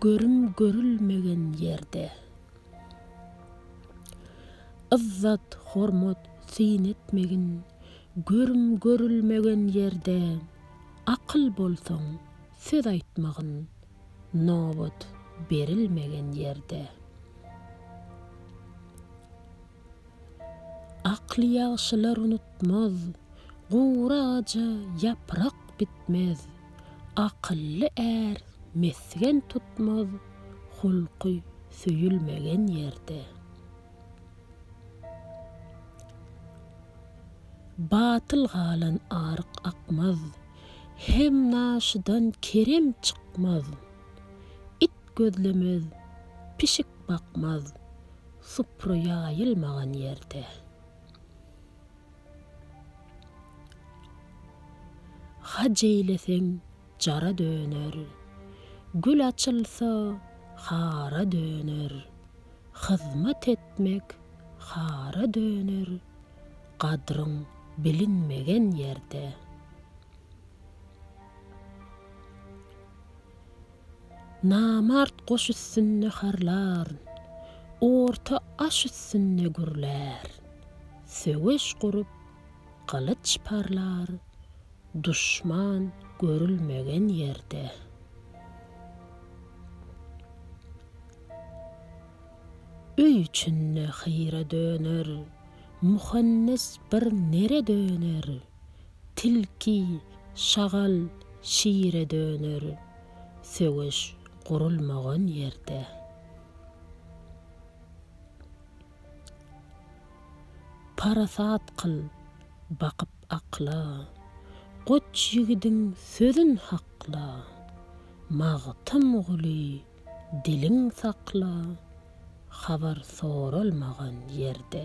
Görüm görülmegen ýerde. Yzzat, hormat, syn etmegin. Görüm görülmegen ýerde. Akyl bolsaň, söz aýtmagyn. Nobat berilmegen ýerde. Akly ýagşylar unutmaz. Gury agaja ýaprak bitmez. Akylly är mesgen tutmaz, hulky söýülmegen ýerde. Batyl galan aryk akmaz. Hem naşydan kerem çykmaz. It gözlemez, pişik bakmaz. Supra ýaýylmagan ýerde. Haj eýleseň jara döner. Gül açylsa hara döner. Hyzmat etmek hara döner. Gadryň bilinmegen ýerde. Namart goş üstünde harlar. Orta aş üstünde gürlär. Söweş gurup, gylyç parlar. Duşman görülmegen ýerde. Öý içinde hyra döner. Muhannes bir nere döner. Tilki, şagal, şire döner. Söweş gurulmagan ýerde. Parasat kyl, bakyp akla. Goç ýigidiň sözün hakla. Magtymguly. Diliň sakla, habar soralmagan ýerde.